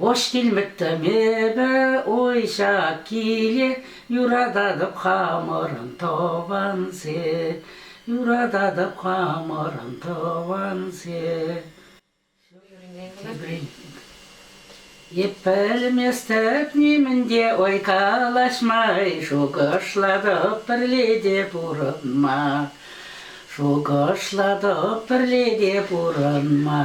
Вӑш килмӗттӗм эпӗ, уйҫа киле, юрататӑп хамӑрӑн тӑвансем, юрататӑп хамӑрӑн тӑвансем. Эп пӗлместӗп нимӗн те, ой калаҫмай, шухӑшлатӑп пӗрле те пурӑнма. Шухӑшлатӑп пӗрле те пурӑнма.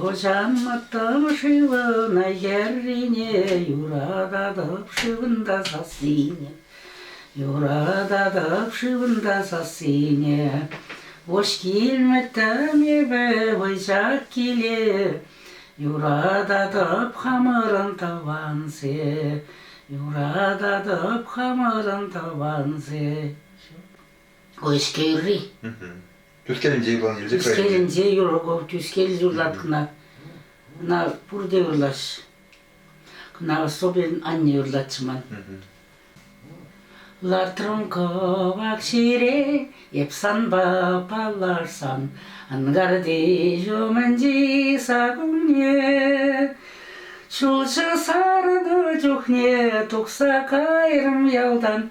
Лӑчанмӑттӑм шывна йӗррине юрататӑп шывӑнта сассине, юрататӑп шывӑнта сассине. Вӑш килмӗттӗм эпӗ вӑйсах киле, юрататӑп хамӑрӑн тӑвансем, юрататӑп хамӑрӑн тӑвансем. Уэскер ырри. Тӳскелӗнче юрланӑ юрсем Тӳскелӗнче юрлӑку Тӳскел юрлаткӑна. Кӑна пурте юрлаҫ. Кӑна особенно анне юрлатчӗ ман. Лартрӑм кӑвак ҫире, эп санпа паллашсан, ангарти ҫумӗнчи саккунне. Ҫулҫӑ сарнӑ чухне тухса кайрӑм ялтан,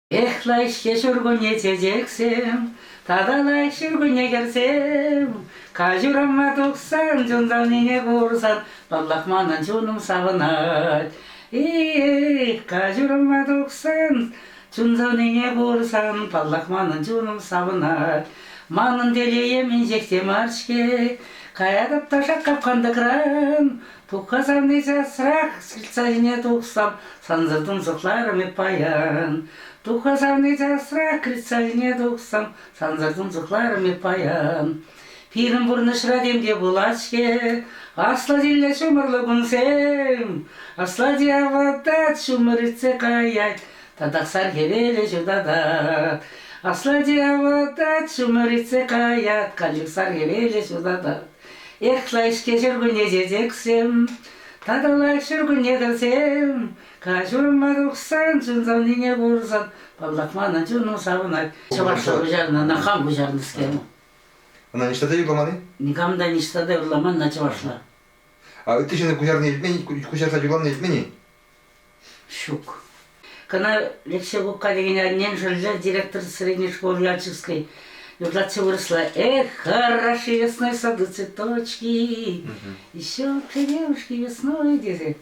Эх, лайӑххи ҫуркунне чечексем, тата лайӑх ҫуркунне кӗрсем. Каҫурӑма тухсан, чунтанине курсан, паллах, манӑн чунум савӑнать. Эх, каҫурӑма тухсан, чунсанине курсан, паллах, манӑн чунум савӑнать. Манӑн телейӗм инҫех те мар-ҫке. Каятӑп та шак капкан тӑкран, Пукка савни часрах сиртсе ҫине тухсан сансӑр тунсӑхларӑм эп паян. Пукка савни часрах критса ҫине тухсан сансӑр тунсӑхларӑм эп паян. Пирӗн пурнӑҫра тем те пулать-ҫке, аслатилле ҫумӑрлӑ кунсем. Аслати аватать, ҫумӑр иртсе каять, татахсар хӗвелӗ ҫутатать. Аслати аватать, ҫумӑр иртсе каять, канчӑксар хӗвелӗ ҫутатать. Ехла ӗҫке ҫуркунне чечексем, татӑла ҫуркунне кӗрсем, каҫурма тухсан чун савнине курсан паллах манӑн чунум савӑнать. Чӑваш та куҫарнӑ, ӑна хам куҫарнӑскер. Ӑна ниҫта та юрламан-и? Никам та ниҫта та юрламан ӑна чӑвашла. А ытти ҫыннӑн куҫарнине илтмен-и? Куҫарса юрланине илтмен-и? Ҫук. Кӑна Левсей Губка текен аннен шӑллӗ директор средней школы Ялчевской юрлатчӗ вырӑсла «Эх, хороши весной сады цветочки, еще кремушки весной», тесе.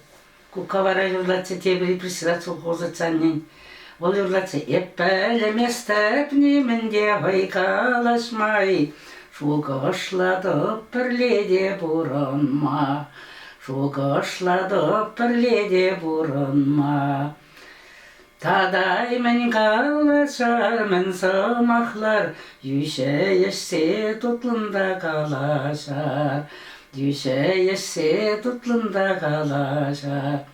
Кукка вара юрлатчӗ тепӗр репрессират совхоза аннен. Вӑл юрлать-ши эп пӗлместӗп нимӗн те хӑй калаҫмай, Шухӑшлатӑп пӗрле те пурӑнма, Шухӑшлатӑп пӗрле те пурӑнма. Татаймӗн калаҫар-мӗн сӑмахлар, Йӳҫе ешсе тутлӑн та калаҫар, Йӳҫе ешсе тутлӑн та калаҫар.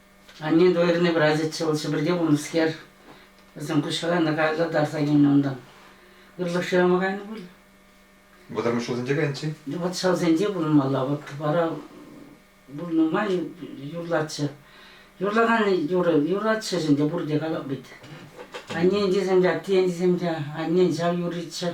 Анне двойӑрне пырасчӗ вӑл Ҫӗпӗрте пулнӑскер. Вӗсем куҫра кайса тарса килнӗ унтан. Ырлӑх шырама кайнӑ пуль. Вӑтӑрмӗш ҫулсенче кайнӑччӗ? Вӑт ҫавсенче пурӑнмалла. Вӑт вара вӑл нумай юрлатчӗ. Юрлакан юрӑ юратчӗ ӗнтӗ пурте калап вӗт. Аннен тесем те, аттен тесем те, аннен ҫав юрриччӗ.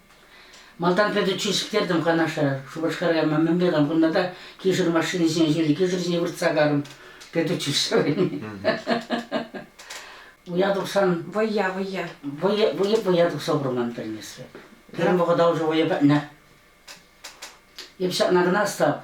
Малтан пӗтӗм чир сиктертӗм Канаша. Шупашкара кайма мӗнле кам кунта та кишӗр машинисене ҫири кишӗр ҫине выртса карӑм. Пӗтӗччӗ сӑвӑйми. Уя тухсан Вӑйя, вӑйя. вӑйӑ, вӑйӑ, вӑйа тухса курман пӗрнесре. Пирӗн вӑхӑта уже вӑйӑ пӗтнӗ. Эп ҫакна кӑна Остап,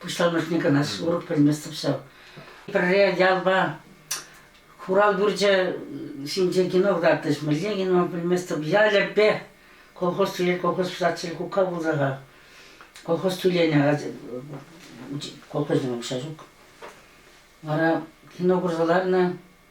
Пуҫламӑшне кӑна сурӑх пӗлместӗп ҫав. Пӗрре ялпа хурав турчӗ ҫинче кино кӑтартрӗҫ. Мӗнле кино пӗлместӗп. Ялӗпе колхоз тӳлет, колхоз пусатчӗ кукка пулса-ха. Колхоз тӳленӗ, колхозне укҫа ҫук. Вара кино курса ларнӑ,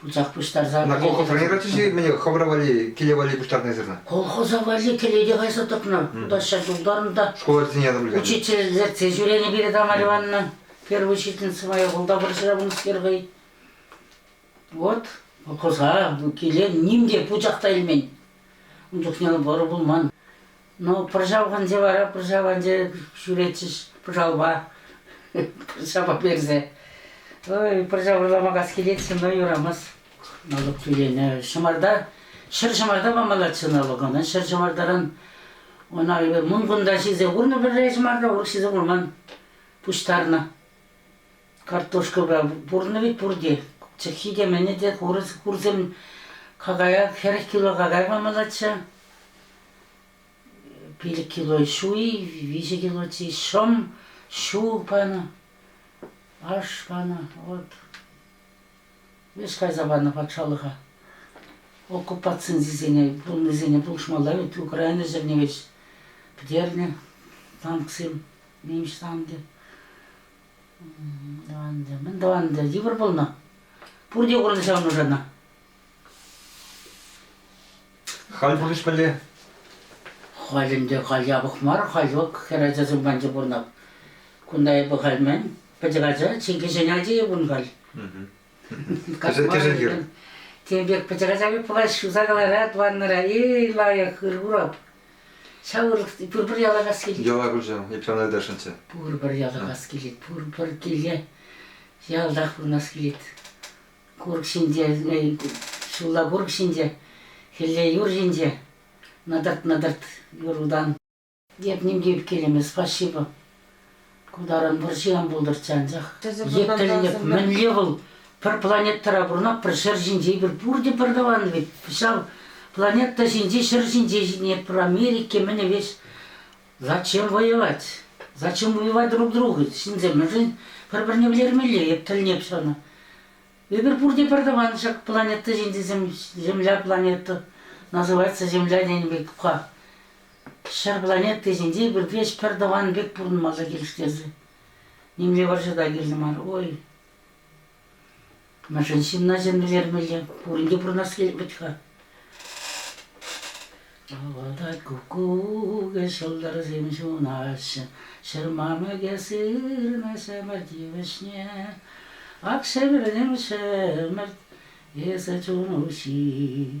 пусах пуҫтарса. На колхоза не катишь мне хӑвӑра валли, киле валли пуҫтарнисӗрна? Колхоза валли кӗлете кайса тӑкнӑ. Куда сейчас утарнӑ та. Школа тени адам билген. Учительсӗр тез ҫӳренӗ пире Тамара Ивановна. Первый учительница моя колта пыршира пынӑскер хӑй. Вот колхоза, киле ним те пучах та илмен. Ун чухне вӑрӑ пулман. Ну, пӑрҫавханче вара пӑрҫаванче ҫӳретчӗҫ пӑрҫавпа. пӑрҫапа персе. Ой, пӑрҫа вӑрлама кас килет-ши, но юрамас. Налук тӳленӗ. Ҫӑмарта, ҫӗр ҫӑмарта памаллаччӗ налук ӑна. Ҫӗр ҫӑмартаран ӑна мункунта ҫисе курнӑ пӗрре ҫӑмарта, урӑх ҫисе курман. Пуҫтарнӑ. Картошкӑпа пурӑннӑ вӗт пурте. Чӑххи те, мӗнӗ те хурсем какая, хӗрӗх кило какай памаллаччӗ. Пилӗк кило ҫуй, виҫӗ кило чи шӑм, ҫу панӑ, аш панӑ. Вот. Ӗҫ кайса панӑ патшалӑха. Оккупацисене пулнисене пулӑшмалла вӗт. Украина ҫӗрне вӗҫ пӗтернӗ танксем, нимӗҫ танкӗ. Ӗнтӗ мӗн тӑван йывӑр пулнӑ. Пурте курнӑ ҫав нушана. Халь пур ӗҫмелле. Халь ӗнтӗ халь япӑх мар, халь вӑк хӗр ачасем панчӑ пурнап. Кунта эпӗ халь мӗн, пӗчӗк ача, чи кӗҫӗн ачийӗ пун халь. Кӗшӗн тем пек пӑчӑраса выпалать, ҫуса кӑларать ваннӑра. Эй, лайӑх, ырпурап. Ҫав ырӑх пурпӗр ялакас килет. Яла куҫӑм, Епрем Альдашинче. Пурпӗр ялакас килет, пурпӗр киле ялтах пурӑнас килет. Курӑк ҫинче, ҫулла курӑк ҫинче, хӗлле юр ҫинче, нӑтӑрт-нӑтӑрт юр утан. Эп нимкӗ килӗме спасибо. Ку таран вӑрҫи ан пултӑрччӗ анчах. Епле, мӗнле вӑл пӗр планетӑра пурӑнап, пӗр ҫӗр ҫинче, пӗр пурте пӗр тӑван вӗт. Ҫав планета ҫинче, ҫӗр ҫинче ҫитнӗ, пӗр Америка мӗн веҫ. Зачем воевать? Зачем воевать друг другу? Ҫынсем мӗншӗн пӗр-пӗрне вӗлермелле, эп тӗлнеп ҫавна. Эпир пурте пӗр тӑван ҫак планета ҫинче Земля планета называется Земля тенӗ пек ха. Ҫӗр планети ҫинче пӗртеш пӗртӑван пек пурӑнмалла килӗштерсе. Нимле вӑрҫӑ та кирлӗ мар. Ой, мӗншӗн ҫынна чӗнмелле? Пурин те пурӑнас килет вӗт-ха. Вӑлта куккук ҫӑлтӑрсем ҫунаҫҫӗ, ҫырма мӗке сырнаҫҫӗ ӗмӗр тивӗҫне. Ак ҫӗмӗрнем ҫӗмӗрт, эсӗ чун уҫи.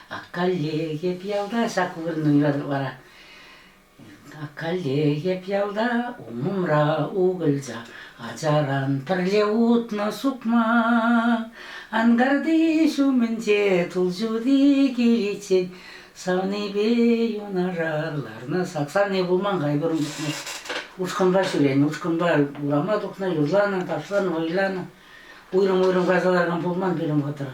Аккаллеев ялта ҫак вырӑнра вара. Аккаллеев ялта умӑмра укӑлча, ачаран пӗрле утнӑ сукмак. Ангарти ҫумӗнче тул ҫути киличчен савнипе юнашар ларнӑ саксанне пулман хай курӑм тухнӑ. Ушкӑнпа ҫӳренӗ, ушкӑнпа урама тухнӑ, юрланӑ, ташланӑ, вӑйланӑ. Уйрӑм-уйрӑм кайса ларман пулман пирӗн вӑхӑтра.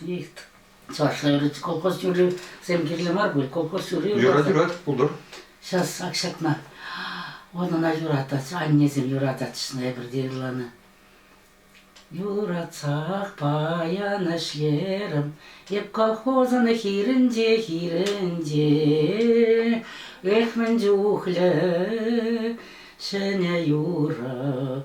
Есть чӑвашла юрать. Колхоз юррисем кирлӗ мар пуль. Колхоз юрри юрать. Юрать, пултӑр. Сейчас ак ҫакна. Унӑна юратать. Аннесем юрататчына эпӗрте ырланӑ. Юратсах паян ӗҫлерӗм Эп колхозӑн хирӗнче, хирӗнче Эх, мӗн чухлӗ ҫӗнӗ юрӑ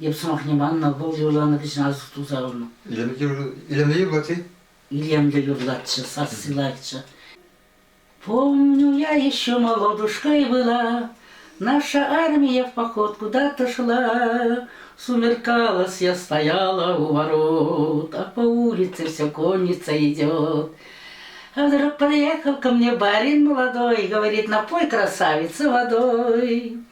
Эп сӑмахне маннӑ, вӑл юрланӑ кӗҫӗн Алсу тулса пынӑ. Илемлӗ юрлать-и? Илемлӗ юрлатчӗ, сасси лайӑхчӗ. Помню я еще молодушкой была, Наша армия в поход куда-то шла, Сумеркалась, я стояла у ворот, А по улице вся конница идет. А вдруг подъехал ко мне барин молодой, Говорит, напой красавица водой.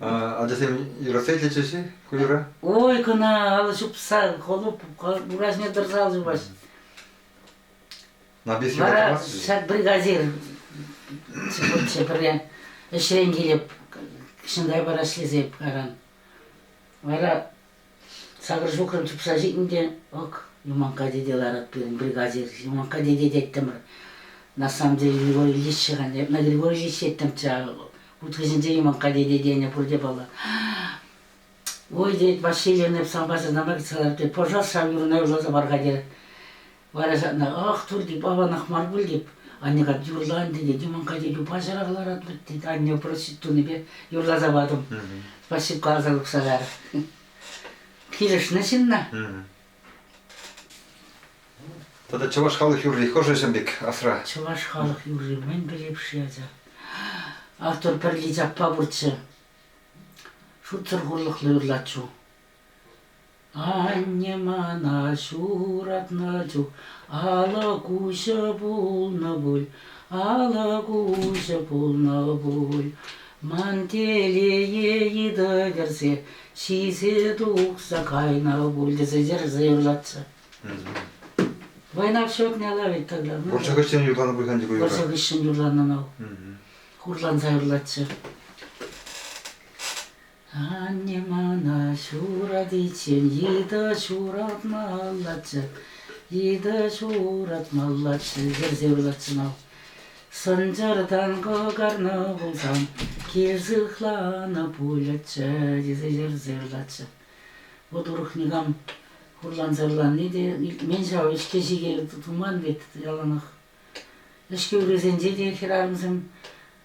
Ачасем юратса итлетчӗҫ-и ку юра? Ой, кӑна алӑ ҫупса холуп ураҫне тӑрса ал ҫупаҫ. Набис Вара ҫак бригадир вообще пӗрле ӗҫрен килеп, Ҫынтай парашлесе аран. Вара Сакӑр ҫухрӑм чупса ҫитнӗ те, ӑк, Юманкка тете ларать пирӗн, бригаде Юманкка тете теттӗмӗр. На самом деле Григорьевич хан, на Григорьевич ҫеттӗмччӗ. Уткӑсенче Юманкка тете тенӗ пурте паллӑ. Ой, тет, Василий эп сан патша знамя кӗтсе калар, тет, пожалуйста, ҫав юрӑна юрласа пар-ха, терӗ. Вара ҫакна, ах, турти палланах мар пуль теп. Анне кать юрла ӗнтӗ тет, юман катя юпашарах ларат вӗт тет. Анне просит тунипе юрласа патӑм. Спасибо каласа тухса кайрӑр. Килӗшнӗ ҫынна. Тата чӑваш халӑх юрри хӑшӗсем пек асра? Чӑваш халӑх юрри мӗн пӗлеп-ши ача? Артур Пӗрлич аппа пурччӗ. Шутсӑр хурлӑхлӑ юрлатчу. Анне мана ҫуратнӑ чух алӑ куҫӗ пулнӑ пуль, алӑ куҫӗ пулнӑ пуль. Ман телее йытӑ кӗрсе ҫисе тухса кайнӑ пуль тесе чӗрсе юрлатчӗ. Войнах ҫокне лавить тогда. Ну, Вӑрҫӑ хыҫҫӑн юрланӑ пуль-ха ку юрра. вӑрҫӑ хыҫҫӑн юрланӑ нав. Хурланса юрлатчӗ. Анне мана ҫуратиччен йытӑ ҫуратмаллаччӗ, йытӑ ҫуратмаллаччӗ, йӗрсе вылатчӗ мав. Сӑнчӑртан кӑкарнӑ пулсан, кил сыхланӑ пулӗччӗ, тесе йӗрсе вылатчӗ. Вӑт урӑх никам хурланса-хурланни те илтмен ҫав, ӗҫке ҫике туман вӗт яланах. Ӗҫке урисенче те хӗрарӑмсем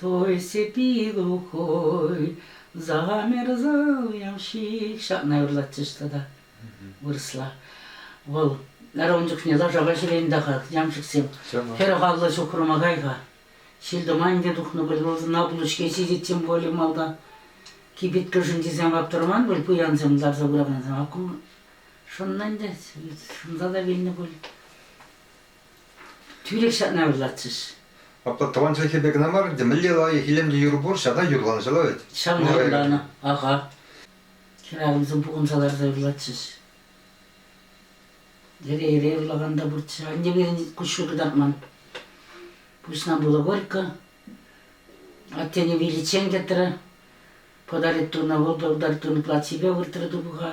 Той сепи глухой, замерзал ямщик. Ҫакна юрлатчӗҫ тата вырӑсла. Вӑл район чухне лаша ваҫрен-тахах ямщиксем хӗрӗх алла ҫухрӑма кай-ха. Ҫил-туман те тухнӑ предложена пулӑ-ҫке ҫитет тем более малта. Кибеткӗшӗн тесем ваптӑрман пуль пуянсем ларса пыракансем. Аккум шӑннӑ ӗнтӗ, шӑнса та вилнӗ пуль. Тӳрех ҫакна ырлатчӗҫ. Апла тӑван чӗлхепе кӑна мар, ӗнтӗ мӗнле лайӑх илемлӗ юр пур, ҫавна юрланӑ ҫӑла вӗт. Ҫавна юрланӑ, аха. Хӗрарӑмсем пухӑнса ларса ырлатчӗҫ. Эре-эре ырлакан та пурччӗ. Аннепе куҫҫуль кӑтартман. Пуҫна пулӑ Горько. Аттене виличчен кӗтрӗ. Подарит туна, вӑл подарит туну платьипе выртрӗ тупӑха.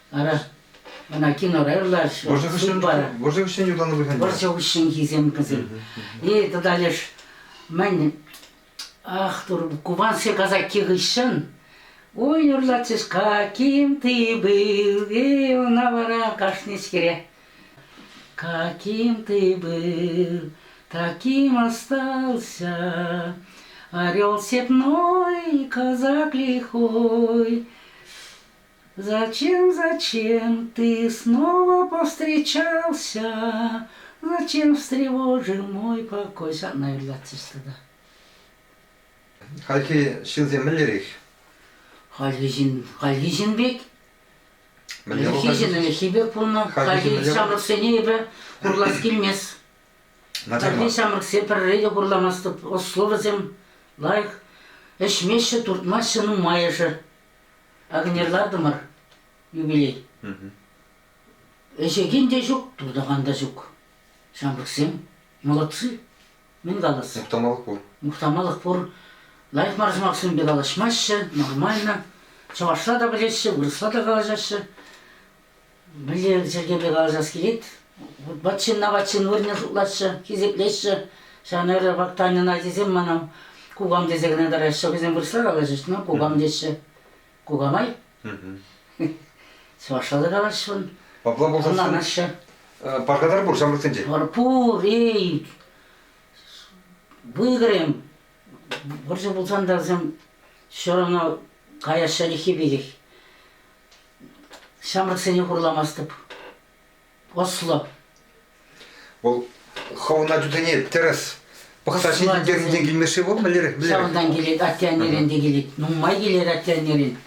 Ара, ӑна кинора ырлаҫҫӗ. Вӑрҫӑ хыҫҫӑн, вӑрҫӑ хыҫҫӑн ютанӑ пуль Вӑрҫӑ хыҫҫӑнхисем кӗсен. И тата леш мӗн, ах, тур, кубанские казаки хыҫҫӑн Ой, юрлатчӗҫ, каким ты был, и ӑна вара кашничкере. Каким ты был, таким остался, орел сетной, казак лихой. Зачем, зачем ты снова повстречался? Зачем встревожил мой покой? Ҫак, наверное, длятся да. Хальхи ҫынсем мӗнлерех? Хальхи ҫын, хальхи ҫын пек. Хальхи ҫын ӗлӗкхи пек пулнӑ. Хальхи ҫамрӑксене эпӗ хурлас килмест. Хальхи ҫамрӑксем пӗрре те хурламастӑп. Ӑс словӗсем лайӑх. Ӗҫмеҫҫӗ, туртмаҫҫӗ нумайӑшӗ. Акӑнер лартӑмӑр юбилей. Ӗҫекен те ҫук, туртакан та ҫук. Ҫамрӑксем молодцы. Мӗн калас? Мухтамалӑх пур. Мухтамалӑх пур. Лайӑх мар сӑмахсемпе калаҫмаҫҫӗ, нормально. Чӑвашла та пӗлеҫҫӗ, вырӑсла та калаҫаҫҫӗ. Мӗнле чӗлхемпе калаҫас килет? Вут-ват ҫынна ват ҫын вырӑнне шутлаҫҫӗ, хисеплеҫҫӗ. Ҫавна эрех вак Таньӑна тесен мана кукам тесе кӑна тараҫҫӗ. Вӗсем вырӑсла калаҫӗҫ, ну кукам теҫҫӗ. Кука май. Чӑвашла та калаҫҫӑ. Апла пулсан Ӑнланаҫҫӗ. Пархатар пур ҫамрӑксенче. Вар пур, эй. Вӑйгӑрем. Вӑрҫӑ пулсан та вӗсем все равно каяҫҫӗ реххи пекех. Ҫамрӑксене хурламастӑп. Ӑслӑ. Вӑл хӑвӑн ачусене тӗрӗс пӑхса ҫитӗнтернинчен килмешре пуль мӗнлерех? Ҫавӑнтан килет, атте-аннерен те килет. Нумай килет атте-аннерен.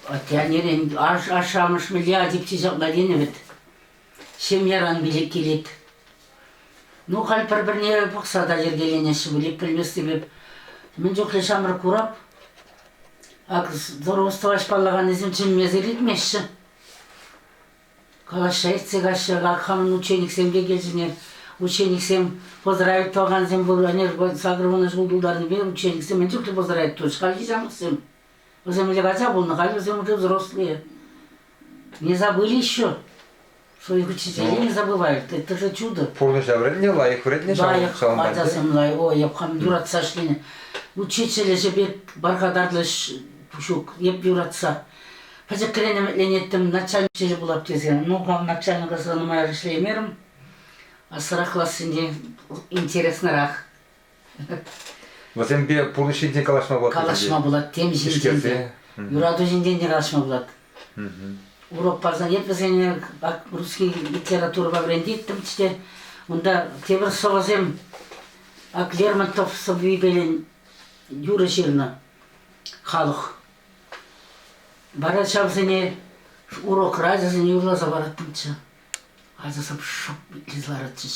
Атте-аннерен ашшӗ-амӑш милли атекчи ҫакна тенӗ вӗт. Ҫемьяран пилӗк килет. Ну, халь пӗр-пӗрне пӑхса та йӗркеленеҫҫӗ пуль. Пӗлместӗп эп. Мӗн чухлӗ ҫамрӑк курап. Ак здоровствоаҫ паллаканӗсем чӗнмесӗр иртмеҫҫӗ. Калаҫса иртсе каҫҫӗ. Ак хамӑн учениксем те килсене. Учениксем поздравить тӑвакансем пур. Анерпа сакӑр вунӑ ҫул тултарнипе учениксем мӗн чухлӗ поздравить тус. Хальхи ҫамрӑксем. Вӗсем ӗҫе кайса пулнӑ, халь вӗсем уже взрослые. Не забыли еще, что их учителя не забывают. Это же чудо. Пурнӑҫа вӗреннӗ, лайӑх вӗреннӗ ҫавӑн лайӑх, ҫавӑнпа ачасем лайӑх. Ой, япхан юратса ӗҫленӗ. Учитель ӗҫӗпе пархатарлӑ ӗҫ ҫук, эп юратса. Пӗчӗкрен ӗмӗтленеттӗм, начальник ӗҫӗ пулап тесе. Ну, хам начальника нумай ӗҫлеймерӗм. Ассӑрах классенче интереснӑрах. Вӗсемпе пурнӑҫ ҫинчен калаҫма пулать. Калаҫма пулать, тем ҫинчен те. Юрату ҫинчен те калаҫма пулать. Урок парсан эп вӗсене русский литературӑпа вӗрентеттӗмччӗ те, унта тепӗр сӑвӑсем Ак Лермонтов сӑввипелен юрӑ ҫырнӑ халӑх. Вара ҫавсене урок радиосӗн юрласа параттӑмччӗ. Ачасем шӑп итлесе ларатчӗҫ.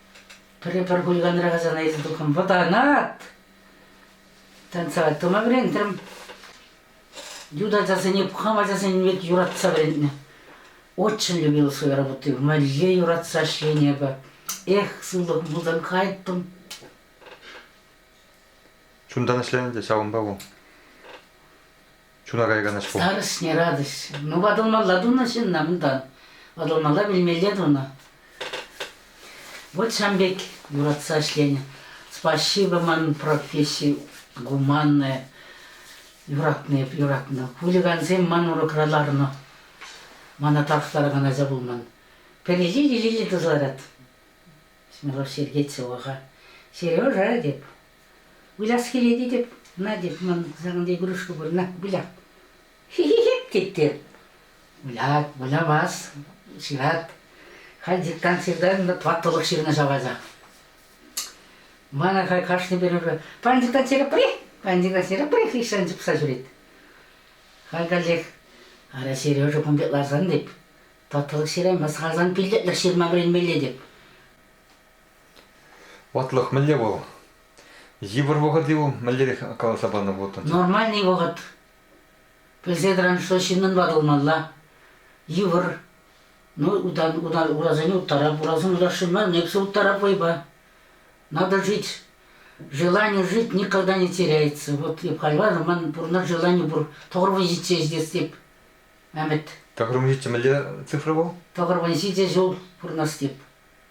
Пӗрре пӗр кульканрах асана илсе тухрӑм. Вӑтанат! Танца тӑма вӗрентрӗм. Ют ачасене, пукан ачасене пек юратса вӗрентнӗ. Очень любила свою работу. Мӗнле юратса ӗҫленӗ эпӗ. Эх, сывлӑхӑм пулсан кайттӑм. Чунтан ӗҫленӗ те ҫавӑнпа вӑл. Чуна каякан ӗҫ пул. Старӑшне радость. Ну, ватӑлмалла тунӑ ҫынна унтан. Ватӑлмалла вилмелле тунӑ. Вот ҫам пек юратса ӗҫленӗ. Спасибо ман професси гуманное. Юратнӑ эп, юратнӑ. Хулигансем ман урокра ларнӑ. Мана тарӑхтаракан ача пулман. Пӗр иле иле тӑса ларать. Смелов Сергеевцеваха. Сережа теп. Выляс килет тетӗп, Надя ман санӑн игрушка вырна выляп. Хи-хи-хип тетте. Вылять, вылямас, ҫырать. Халь дистанцирта ваттӑлӑх ҫырнӑ ҫавалса. Мана хай кашни перевӗ. Пан дистанцира пре, пан дистанцира пре, хыҫсан чупса ҫӳрет. Халь каллех, ара, Сережа кун пек ларсан теп, ваттӑлӑх ҫыраймас, халсан пиллетлӗх ҫырма вӗренмелле теп. Ватлӑх мӗнле вӑл? Йывӑр вӑхӑт-и вӑл? Мӗнлерех каласа панӑ вӑтӑн? Нормальный вӑхӑт. Пӗлсе тӑран, что ҫыннӑн ватӑлмалла. Йывӑр. Ну, утан, утан, урасене уттарап, урасем урасшин ман, эпсе уттарап вӑйпа. Надо жить. Желание жить никогда не теряется. Вот я понимаю, ман пурнар желание пур. Тоғырвынжитсе іздестеп. Мәмет. Тоғырвынжитсе мӗнле цифра вӑл? Тоғырвынжитсе жол пурнастеп.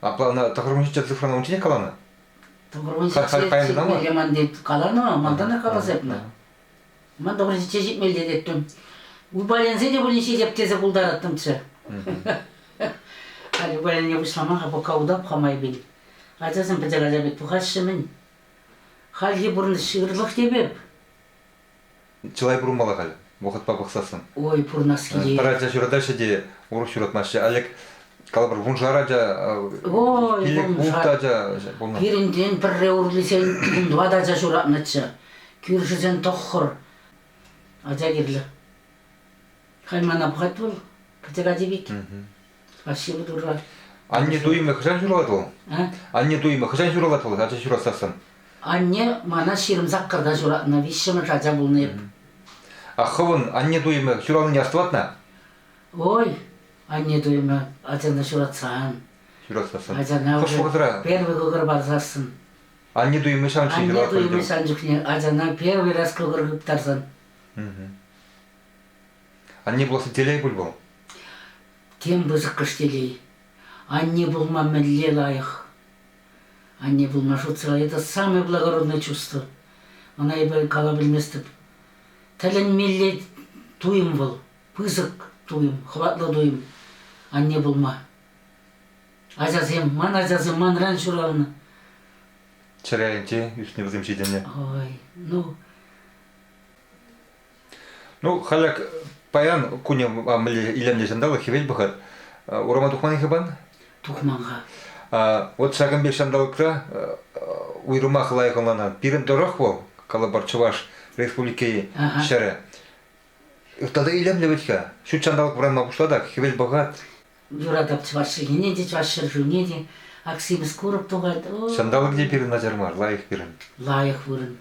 Апла ӑна тӑхӑрмӗш ҫиччӗ цифрана унчченех каланӑ? Тӑхӑрмӗш ҫичче Ремонтне каланӑ, малтан та каласа эпне. Ман тӑхӑрмӗш ҫичче ҫитмелле теттӗм. Упаленсе те пулин ҫитеп тесе пултараттӑмччӗ. Халь упалене пуҫлама-ха пока удап ха майпен. Ачасем пӗчӗк ача пек тухаҫҫӗ-мӗн. Хальхи пурнӑҫ ырӑлӑх теп эп. Чылай пурӑнмалла халь, вӑхӑтпа пӑхсассӑн. Ой, пурӑнас килет. Пӗр ача ҫуратаҫҫӗ те урӑх ҫуратмаҫҫӗ. Алек, калӑпӑр, вуншар ача, пилӗк ултӑ ача пулнӑ. Пирӗнтен пӗрре урлисен ун тӑватӑ ача ҫуратнӑччӗ. Кӳршӗсен тӑххӑр ача кирлӗ. Халь мана пӑхать вӑл, кӗтек ачи пек. А силы турра. Анне туйӑмӗ хӑҫан ҫуралать вӑл? Анне туйӑмӗ хӑҫан ҫуралать вӑл ача ҫуратсассӑн? Анне мана ҫирӗм саккӑрта ҫуратнӑ, виҫҫӗмӗш ача пулнӑ эп. А хӑвӑн анне туйӑмӗ ҫуралнине астӑватна? Ой, анне туйӑмӗ ачана ҫуратсан. Ҫуратсассӑн. Ачана уже первый кӑкӑр парсассӑн. Анне туйӑмӗ ҫавӑн чухне ҫуралать. Анне туйӑмӗ сан чухне ачана первый раз кӑкӑр хыптарсан. Анне пуласси телей пуль вӑл? Тем пысӑккӑш телей. Анне пулма мӗнле лайӑх? Анне пулма шутсӑр это самое благородное чувство. Ӑна эпӗ кала пӗлместӗп. Тӗлӗнмелле туйӑм вӑл, пысӑк туйӑм, хӑватлӑ туйӑм анне пулма. Ачасем, ман ачасем манран ҫуралнӑ. Чӗре айӗнче ӳснӗ вӗсем ҫитӗннӗ. Ой, ну, Ну, халӗ паян кунӗ илемлӗ ҫанталӑк, хӗвел пӑхӑр. Урама тухман-и хыпан? Тухман-ха. Вот ҫакӑн пек ҫанталӑкра уйрӑмах лайӑх ӑнланан. Пирӗн тӑрӑх вӑл, калӑпӑр, Чӑваш Республики ҫӗрӗ. Тата илемлӗ вӗт-ха. Ҫут ҫанталӑк вӑранма пуҫлатах, хӗвел пӑхать. Юратап чӑваш чӗлхине те, чӑваш ҫӗр шывне те. Ак симӗс курӑк тухать. Ҫанталӑк те пирӗн начар мар, лайӑх пирӗн. Лайӑх вырӑн.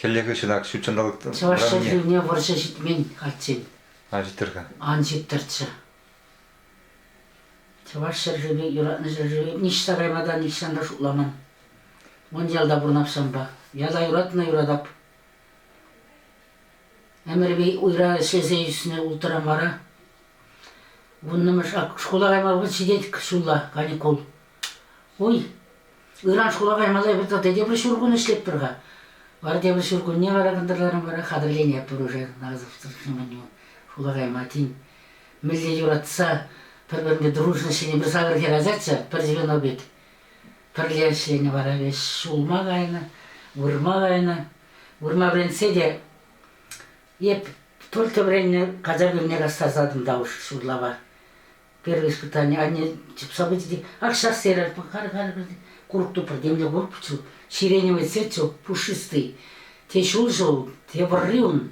Хӗллехи ҫынак ҫут ҫанталӑк Чӑваш ҫӗршывне вӑрҫӑ ҫитмен каччен. Ан ҫиттӗр-ха. Ан ҫиттӗрччӗ. Чӑваш ҫӗршывӗ, юратнӑ ҫӗршывӗ ниҫта кайма та нихҫан та шутламан. Мӑн ялта пурӑн Ахҫанпа. Ята юратнӑ юратап. Ӗмӗрпе уйра ӗҫлесе ӳснӗ улттӑра мара. Вуннӑмӗш шкула кайма вӑл ҫитет ҫулла, каникул. Уй, ыран шкула каймалла эпир тата тепӗр ҫуркун ӗҫлетпӗр-ха. Вара тепӗр ҫуркунне вара кӑнтӑрларан вара хатӗрленетпӗр уже Назовсӑр шкула кайма. Тен, мӗнле юратса пӗр-пӗрне дружность ҫине пӗр сакӑр хӗр ачаччӗ, пӗр чемодан пек. Пӗрле ӗҫленӗ вара веҫ ҫулма кайнӑ, вырма кайнӑ. Вырма вӗрентсе те эп только вӗреннӗ качак умне кастарсатӑн та уж ҫурлапа. Первое испытание анне чупса пычӗ, ах, сейчас серӗр, пӑхар, пӑхар, курӑк тупрӑр, темле курӑкчӗ, ҫирене сечӗ пушистый, те ҫулҫӑ ул, те вӑрри ун.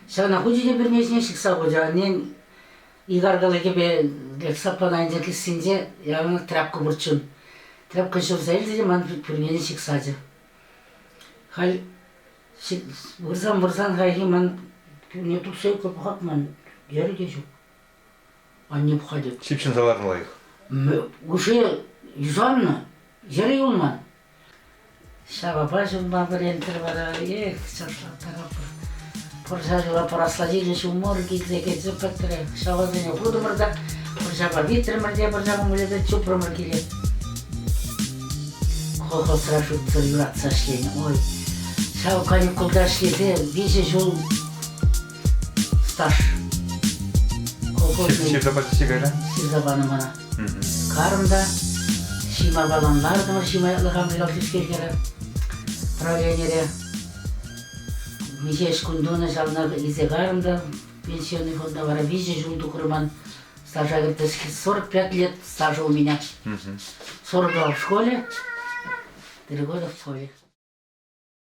Ҫавна хучӗ те пӳрне ҫине ҫыхса хучӗ. Аннен икаркаллӑ кӗпе лексапана ӗнтӗ кӗсйинче яланах тряпка пурччӗ ун. Тряпка ҫурса илчӗ те ман пӳрнене ҫыхсачӗ. Халь вырсан-вырсан хайхи ман пӳрне тухса ӳкер пӑхать ман, йӗрӗ те ҫук. Анне пӑхать. Ҫыпҫӑнса ларнӑ лайӑх. Уже юсаннӑ, йӗрӗ юлман. Ҫавапа ҫунма вӗрентӗр вара, эх, чӑрсаттарӑпӑр. Пӑрҫарила пӑрахлатине ҫумор килсе кӗрсе пӗтрӗ. Ҫавасене хутӑмӑр та пӑрҫапа витрӗмӗр те пӑрҫапа мыльӑпе чупрӑмӑр киле. Колхозра шутсӑр юратса ӗҫленӗ. Ой, ҫав каникулта ӗҫлесе виҫӗ ҫул Стаж. Колхоз ҫырса пачӗҫ кайра? Ҫырса панӑ мана. Карӑм та ҫима балан лартӑмӑр, ҫима ятлӑ хамрикал тискеркере правленире миҫе ӗҫ кун тунӑ, ҫавна илсе карӑм та пенсионный фонда вара виҫӗ ҫул тухрӑм ман стажа кӗртес 45 лет стажа у меня. 42 в школе, три года в школе.